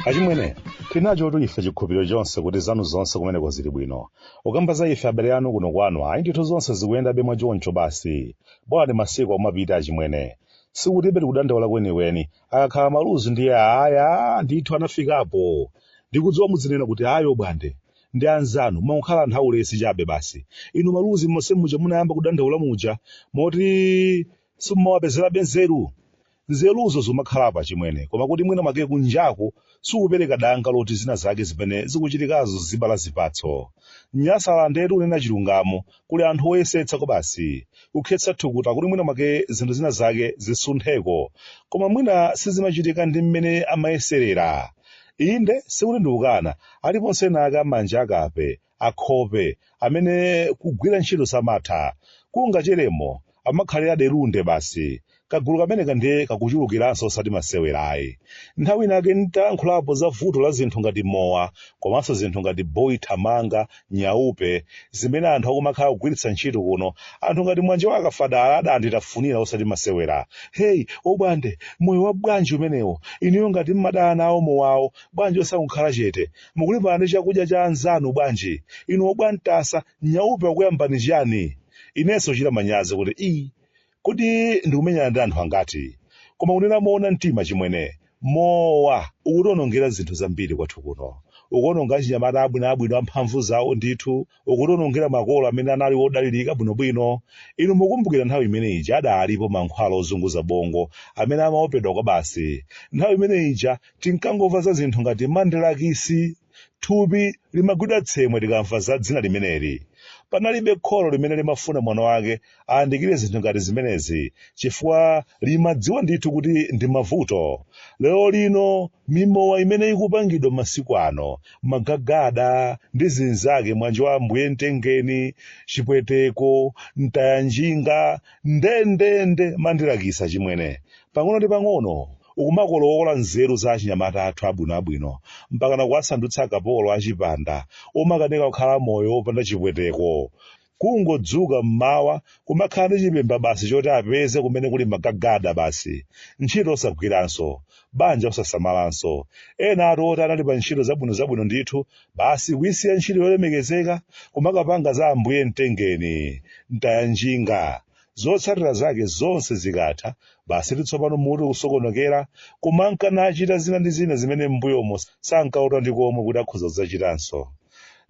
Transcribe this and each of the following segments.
achimwene tinacho tu ife chikhulupiriro chonse kuti zanu zonse kumeneko zili bwino kukamba za ife abale anu kuno kwanu ayi ndithu zonse zikuyendabe mwa choncho basi bwani masiku akumapita achimwene sikuti sitikudandaula kwenikweni akakhala maluzi ndiye aya ndithu anafikapo ndikudziwa mudzinena kuti ayi obwande ndi anzanu mwangokhala anthu aulesi chabe basi inu maluzi monse muja munayamba kudandaula muja moti simumawapezerabe nzeru nzeruzo zikumakhalapo achimwene koma kuti mwina mwake kunjaku sikupereka danga loti zina zake zimene zikuchitikazo zibala zipatso nyasalandetu kunena chilungamo Kuli anthu oyesetsa kwabasi kukhetsa thukuta kuti mwina mwake zinthu zina zake zisuntheko, koma mwina sizimachitika ndi mmene amayeserera. Inde, sikuti ndikukana, aliponso ena ake amanjalende, akhope, amene kugwira ntchito samatha. Kungacheremo Amakhalira dyerunde basi. Kagulu kameneka ndiye kakuchulukiranso osati masewera ayi. Nthawi ina yake n'tayankhulapo za vuto la zinthu ngati mowa komanso zinthu ngati boy thamanga, nyaupe, zimene anthu akumakhala akugwiritsa ntchito kuno, anthu ngati Mwanjo wa Kafadala adanditafunira osati masewera. Hey, Obwande, moyo wanji umenewo? Inuyo ngati m'madana nawo mowawo, bwanji osangokhala chete? Mukulimbana ndi chakudya cha anzanu bwanji? Inu obwantasa, Nyaupe wakuyambani chiyani? Inenso kuchita manyazi kuti ii kodi ndikumenyana ndi anthu angati? Koma kunena moona mtima achimwene, mowa ukutionongera zinthu zambiri kwathu kuno. Ukuononga achinyamata abwinoabwino amphamvu zawo ndithu. Ukutionongera makolo amene anali wodalirika bwinobwino. Inu mukumbukira nthawi imene ija adaalipo mankhwala ozunguza bongo amene amaopedwa kwabasi. Nthawi imene ija tinkangomva za zinthu ngati mandilakisi. Thupi limagwidwa tsemwe tikamva za dzina limeneli. Panalibe kholo limene limafuna mwana wake ayandikire zinthu ngati zimenezi chifukwa limadziwa ndithu kuti ndi mavuto. Lerolino, mimowa imene ikupangidwa masiku ano, magagada, ndi zinzake, mwanjo wa Ambuye Mtengeni, Chipweteko, Mtayanjinga, ndendende, Mandilakisi, achimwene, pang'ono ndi pang'ono, ukumakolowola nzeru za achinyamata athu abwinoabwino mpakana kuwasandutsa akapolo a chipanda omakanika kukhala moyo wopanda chipweteko. Kungodzuka m'mawa kumakhala ndi chipemba basi choti apeze kumene kuli magagada basi. Ntchito osagwiranso. Banja osasamalanso. Enatu oti anali pa ntchito zabwinozabwino ndithu, basi kuisiya ntchito yolemekezeka kumakapanga za ambuye mtengeni. Mtayanjinga. Zotsatira zake zonse zikatha, basi tsopano mutu kusokonokera, kumanka nachita zina ndi zina zimene m'mbuyomo sankalota ndi komwe kuti akhoza kudzachitanso.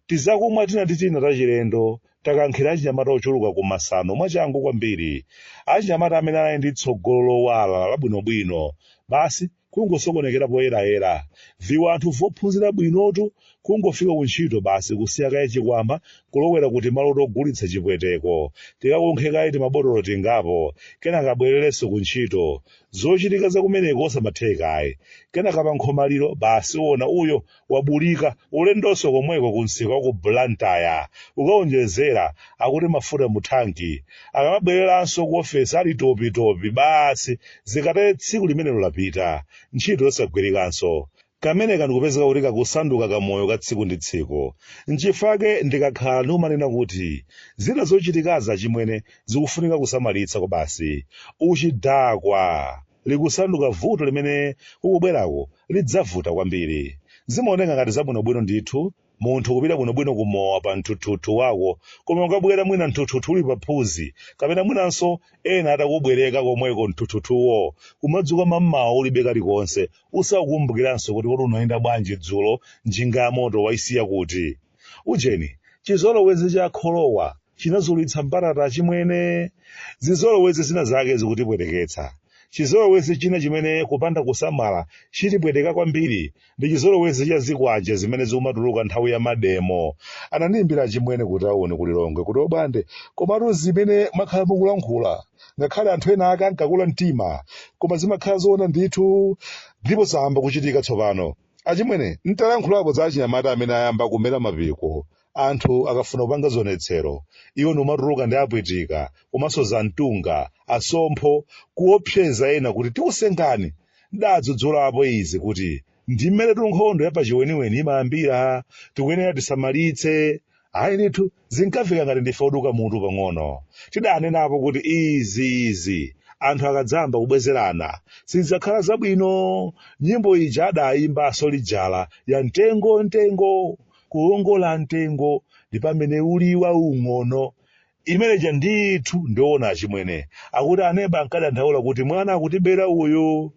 Tizakumwa tina ndi tina tachilendo takankhira achinyamata ochuluka ku masano mwachangu kwambiri, achinyamata amene anali ndi tsogolo lowala labwinobwino. Basi kungosokonekera poyerayera. Viwanthu vophunzira bwinotu kungofika ku ntchito basi kusiya kaye chikwama kulowera ku timalo togulitsa chipweteko, tikakunkhe kaye timabotolo tingapo, kenaka abwererenso ku ntchito. Zochitika za kumeneko osamathekayi. Kenaka pa nkhomaliro, basi uona uyo wabulika ulendonso komweko ku msika wa ku Blantyre ukaonjezera akuti mafuta mu thanki akamabwereranso ku ofesi ali topi topi basi zikatere tsiku limenelo lapita ntchito yosagwirikanso kameneka n'kupezeka kuti kakusanduka kamoyo ka tsiku ndi tsiku nchifake ndikakhala ndikumanena kuti zina zochitikaza chimwene zikufunika kusamalitsa kwa basi uchidakwa likusanduka vuto limene kukubweraku lidzavuta kwambiri. Zimaoneka ngati zabwinobwino ndithu, munthu kupita bwinobwino ku mowa pa mthuthuthu wako, koma ukabwera mwina mthuthuthu uli pa phunzi, kapena mwinanso ena atakubwereka komweko mthuthuthuwo, kumadzuka mammawa ulibe kalikonse, usakukumbukiranso kuti kodi unayenda bwanji dzulo, njinga yamoto waisiya kuti? Ujeni, chizolowezi cha kholowa chinazulitsa mbatata chimwene. Zizolowezi zina zake zikutipweteketsa. Chizolowezi china chimene kupanda kusamala chitipweteka kwambiri ndi chizolowezi cha zikwanje zimene zikumatuluka nthawi ya mademo. Anandiimbira achimwene kutauni ku Lilongwe kuti Obande, komatu zimene mwakhala mukulankhula ngakhale anthu ena ake ankakula mtima, koma zimakhala zoona ndithu ndipo zayamba kuchitika tsopano. Achimwene, n'talankhulapo za achinyamata amene ayamba kumera mapiko. Anthu akafuna kupanga zionetsero, iwo ndi kumatuluka ndi apwitika komanso zantunga, asompho, kuopseza ena kuti tikusengani. N'dadzudzulapo izi kuti ndi mmenetu nkhondo yapachiweniweni imayambira. Tikuyenera tisamalitse. Ayi ndithu, Zinkafika ngati ndife oduka mutu pang'ono. Tidanenapo kuti izi izi anthu akadzayamba kubwezerana sizidzakhala zabwino. Nyimbo ija adayimba a Soja ya mtengo mtengo kuwongola mtengo ndi pamene uli waung'ono imene ija ndithu ndiona achimwene akuti aneba ankadandaula kuti mwana akutibera uyu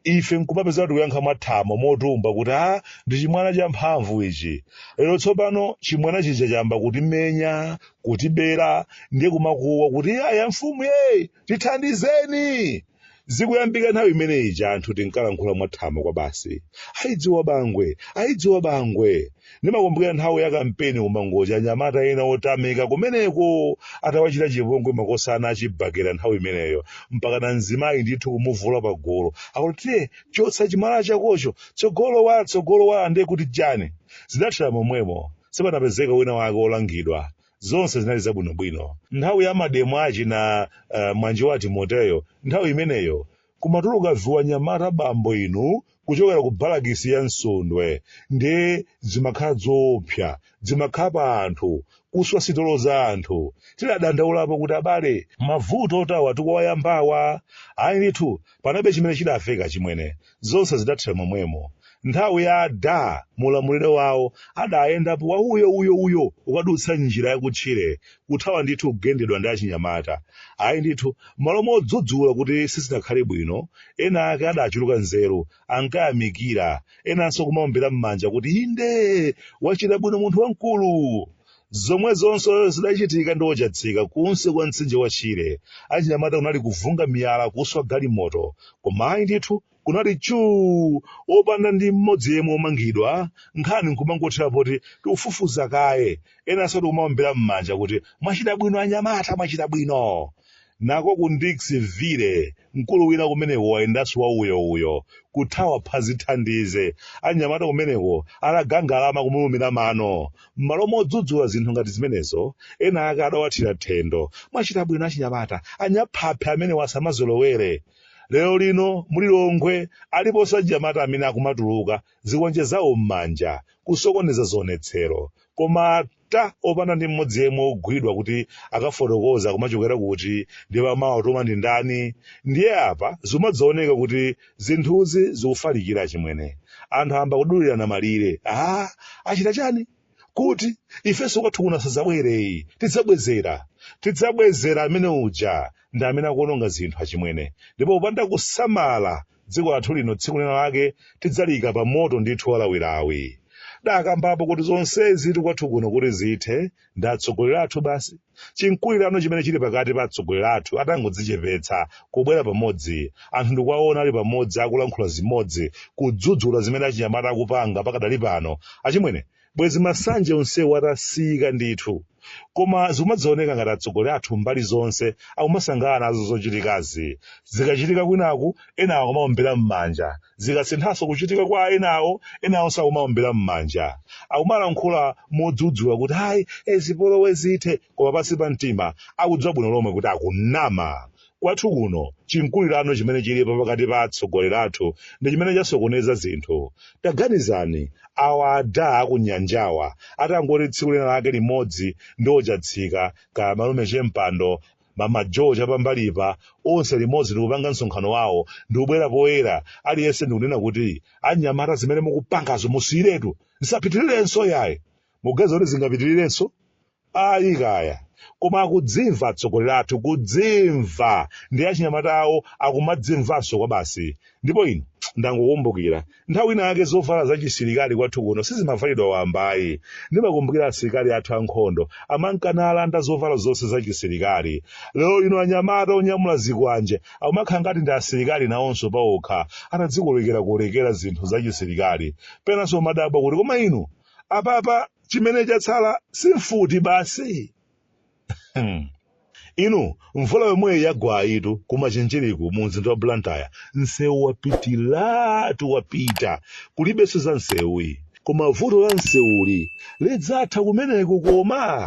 ife nkumapezeka tikuyankha mwathamo motumba kuti a ndi chimwana cha mphamvu ichi lero tsopano chimwana chija chayamba kutimenya kutibera ndiye kumakuwa kuti ayi mfumu ee tithandizeni zikuyambika nthawi imene ija anthu tinkalankhula mwathamo kwa basi ayidziwa bangwe ayidziwa bangwe ndimakumbukira nthawi ya kampeni kumangochi anyamata ena otamika kumeneko atawachita chipongwe makosana achibhakera nthawi imeneyo mpakana mzimayi ndithu kumuvula pagolo akuti tiye chotsa chimala chakocho tsogolo tsogolo ndiye kuti chani zidathera momwemo sipanapezeka wina wake olangidwa zonse zinali zabwinobwino nthawi ya mademo achina mwana wa timoteyo nthawi imeneyo Kumatuluka vianyamata bambo inu kuchokera ku balakisi ya Msundwe nde dzimakhala dzoopsa dzimakhapa anthu kuswa sitolo za anthu tidadandaulapo kuti abale mavuto oterewa tikuwayambawa ayi ndithu panalibe chimene chidaveka chimwene zonse zidathera momwemo nthawi ya adamulamulire wawo adayendapo wa uyo uyo uyo ukadutsa njira yakutchire kuthawa ndithu kugendedwa ndi achinyamata. Ayi ndithu, m'malo modzudzula kuti sizinakhale bwino, ena ake adachuluka nzeru, ankayamikira, enanso kumaombera m'manja kuti inde, wachita bwino munthu wamkulu. Zomwezo zonse zidachitika ndi a Chatsika kunsi kwa mtsinje wa Shire. Achinyamata kunali kuvunga miyala, kuswa galimoto. Koma ayi ndithu, kunali chuu opanda ndi mmodzi yemwe omangidwa, nkhani nkumangothera poti tikufufuza kaye, enanso tikumaombera mmanja kuti mwachita bwino anyamata mwachita bwino. Nako ku Ndix Ville mkulu wina kumeneko wayendanso wa uyo uyo, kuthawa phazi thandize, anyamata kumeneko atadangalama kumulumira mano. Mmalo modzudzula zinthu ngati zimenezo, ena ake adawathira thendo, mwachita bwino achinyamata, anyaphaphi amenewa asamazolowere. lero lino mu Lilongwe aliponso achinyamata amene akumatuluka zikwanje zawo m'manja kusokoneza zionetsero koma ata opanda ndi mmodzi yemwe ogwidwa kuti akafotokoze kumachokera kuti ndipo amawatuma ndi ndani ndiye apa zikumadzaoneka kuti zinthuzi zikufalikira chimwene anthu ayamba kudulirana malire a achita chani kuti ifenso kwathu kuno asadzabwere tidzabwezera tidzabwezera amene uja ndi amene akuononga zinthu achimwene ndipo popanda kusamala dziko lathu lino tsiku lina lake tidzaliika pa moto ndithu walawilawi ndakambapo kuti zonsezi tikwathu kuno kuti zithe ndi atsogoleri athu basi chimkulirano chimene chili pakati pa atsogoleri athu atangodzichepetsa kubwera pamodzi anthu ndikuwaona ali pamodzi akulankhula zimodzi kudzudzula zimene achinyamata akupanga pakadali pano achimwene bwezi masanje onsewo atasiyika ndithu koma zikumadzaoneka ngati atsogoleri athu mbali zonse akumasangalala nazo zochitikazi zikachitika kwinaku enawo akumaombera m'manja Zikasinthanso kuchitika kwa enawo, enawonso akumaombera m'manja. Akumalankhula modzudzula kuti, Ayi, e zipolowe zithe! Koma pansi pa mtima, akudziwa bwino lomwe kuti akunama. Kwathu kuno, chimkulirano chimene chilipo pakati pa atsogoleri athu ndi chimene chasokoneza zinthu. Taganizani, awa a daa a kunyanjawa atangoti tsiku lina lake limodzi ndi ochatsika, kaya malume Chempando, mama joe chapambalipa onse limodzi ndikupanga msonkhano wawo ndikubwera poyera aliyense ndikunena kuti anyamata zimene mukupangazo musiyiretu zisapitirirenso yayi muganiza kuti zingapitirirenso ayi kaya koma akudzimva atsogoleri athu kudzimva ndi achinyamata awo akumadzimvanso kwa basi ndipo ino ndangokumbukira nthawi ina yake zovala za chisilikali kwathu kuno sizimavalidwa wamba ayi ndimakumbukira asilikali athu ankhondo amankanalanda zovala zonse za chisilikali lero lino anyamata onyamula zikwanje akumakhala ngati ndi asilikali nawonso paokha atadzikolekerakolekera zinthu za chisilikali penanso umadabwa kuti koma inu apapa chimene chatsala si mfuti basi Hmm. inu mvula yomweyi yagwayitu ku Machinjiriku mu mzinda wa blantyre msewu wapitiratu wapita kulibenso za msewuyi koma vuto la msewuli lidzatha kumeneko koma